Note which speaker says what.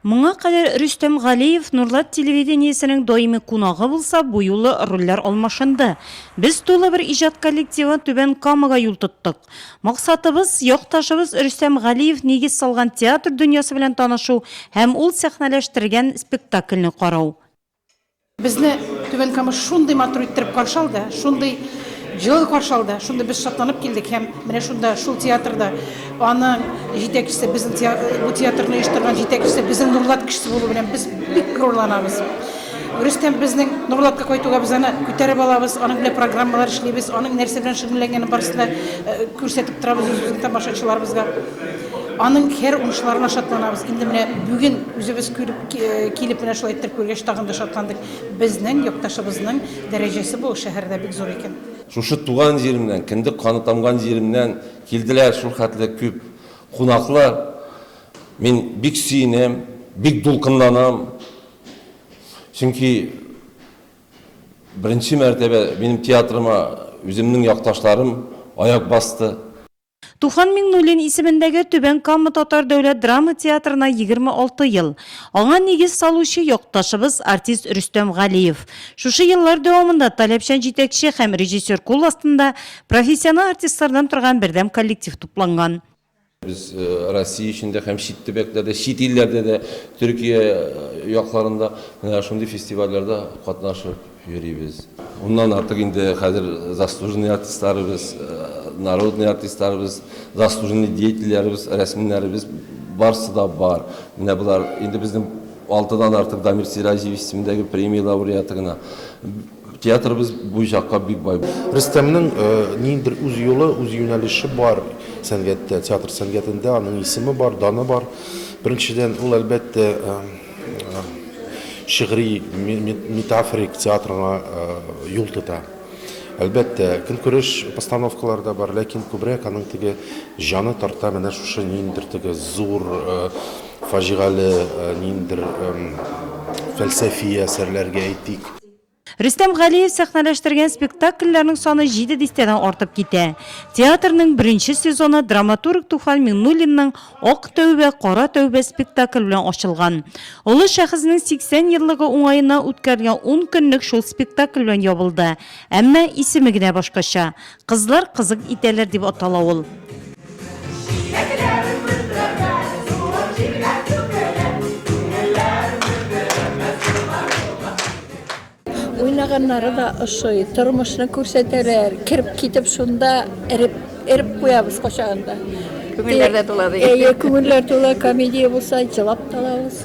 Speaker 1: Моңа кадәр Рөстәм Галиев Нурлат телевидениесенең даими кунагы булса, бу юлы рольләр алмашынды. Без тулы бер иҗат коллективы Түбән Камага юл тоттык. Максатыбыз, якташыбыз Рөстәм Галиев нигез салган театр дөньясы белән танышу һәм ул сәхнәләштергән спектакльне карау. Безне
Speaker 2: Түбән Кама шундый матур иттереп каршы алды, шундый җылы каршы алды, шундый без шатланып килдек һәм менә шунда, шул театрда аның җитәкчесе, безнең бу театрны оештырган җитәкчесе безнең Нурлат кешесе булу белән без бик горурланабыз. Рөстәм безнең Нурлатка кайтуга без аны күтәреп алабыз, аның белән программалар эшлибез, аның нәрсә белән шөгыльләнгәнен барысын да э, күрсәтеп торабыз үзебезнең тамашачыларыбызга. Аның һәр уңышларына шатланабыз. Инде менә бүген үзебез күреп Килеп менә шулай иттереп күргәч, тагын да шатландык. Безнең якташыбызның дәрәҗәсе бу шәһәрдә бик зур икән. Шушы туган
Speaker 3: җиремнән, кендек каны тамган җиремнән килделәр шул хәтле күп кунаклар. Мин бик сөенәм, бик дулкынланам. Чөнки беренче мәртәбә минем театрыма үземнең якташларым аяк басты. Туфан
Speaker 1: Миңнуллин исемендәге Түбән Кама татар дәүләт драма театрына 26 ел. Аңа нигез салучы якташыбыз артист Рөстәм Галиев. Шушы еллар дәвамында таләпчән җитәкче һәм режиссер кул астында профессиональ артистлардан торган бердәм коллектив тупланган. Без
Speaker 3: Россия эчендә һәм чит төбәкләрдә, чит илләрдә дә, Төркия якларында, менә шундый фестивальләрдә катнашып, йөрибез. Моннан артык инде хәзер заслуженный артистларыбыз, народный артистларыбыз, заслуженный деятельләребез, рәсмнәребез барсы да бар. Менә болар инде безнең алтыдан артык Дамир Сираҗиевич исемендәге премия лауреаты гына. Театрыбыз бу чакка бик бай. Рөстәмнең
Speaker 4: ниндидер үз юлы, үз юнәлеше бар сәнгатьтә, театр сәнгатендә. Аның исеме бар, даны бар. Беренчедән, ул, әлбәттә, шигъри метафорик театрга юл тота. Әлбәттә, көнкүреш постановкалары да бар, ләкин күбрәк аның теге җаны тарта менә шушы ниндер теге зур фаҗигале ниндер фәлсәфи әсәрләргә әйтик. Рөстәм
Speaker 1: Галиев сәхнәләштергән спектакльләрнең саны җиде дистәдән артып китә. Театрның беренче сезоны драматург Туфан Миңнуллинның Ак тәүбә, кара тәүбә спектакль белән ачылган. Олы шәхеснең 80 еллыгы уңаеннан үткәрелгән ун көнлек шул спектакль белән ябылды, әмма исеме генә башкача. Кызлар кызык итәләр дип атала ул.
Speaker 5: Уйнаганнары да ошый, тормышны күрсәтәләр, кереп китеп шунда эреп, эреп куябыз качагында. Күңелләр дә
Speaker 6: тула, ди. Әйе, күңелләр тула,
Speaker 5: комедия булса, җылап та алабыз.